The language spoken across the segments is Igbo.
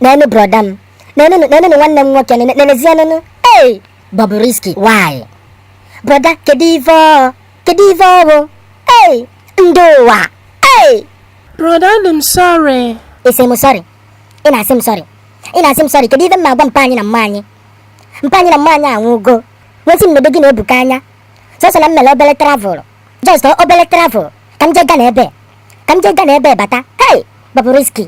nene broda m nenụnụ nenụnụ nwanne m nwoke nene- nenezienụnụ ei Bobrisky why broda kedu ife ọ kedu ife ọ bụ ei ndị ụwa ei Broda adị m sorry. ị sị m sorry ị na-asị m sorry ị na-asị m sorry kedu ife m ga-agwa mpa anyị na mma anyị mpa anyị na mma anyị anwụgo wee sị m nedo gị na Ebuka anya sọsọ na m mere obele travel just obele travel ka m jee Ghana ebe ka m jee Ghana ebe bata hey Bobrisky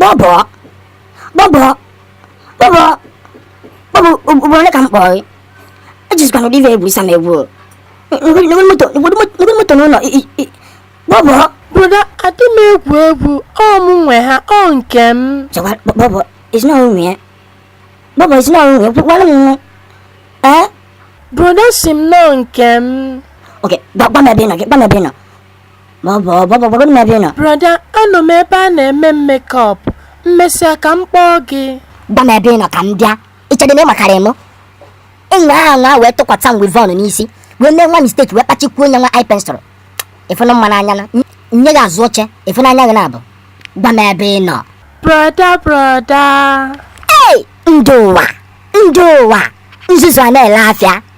Bọbọ, bọbọ, bọbọ, bọbọ, ugboro ole ka m kpọrọ gị? Ejizikwana ụdị ife egwusa m egwu o. N'ụdị moto, n'ụdị moto n'ụnọ, bọbọ. Broda, adị m egwu egwu, ọ mụ nwe ha, ọ nke m. Chọwa, bọbọ, ị sị n'onye nwe ya. Bọbọ, ị sị n'onye nwe ya, gwara m nwa. Ee? Broda sị m na ọ nke m. Ok, gwa m ebe ị nọ gị, gwa m ebe ị nọ. ma bọbọ gwagodu m ebe ị nọ Brọda, anọ m ebe a na-eme m makeup. Mmesịa ka m kpọọ gị. gwa m ebe ị nọ ka m bịa ị chedị na ị makarị m enyi ahụ anwa wee tụkwata m weavon n'isi wee mee nwa mistake wee kpachikwuo onye nwa eye pencil ịfụnụ mma n'anya na nye gị azụ oche ịfụnụ anya gị na-abụ gwa m ebe ị nọ Brọda, brọda. ei ndị ụwa ndị ụwa nzuzu a na-ele afịa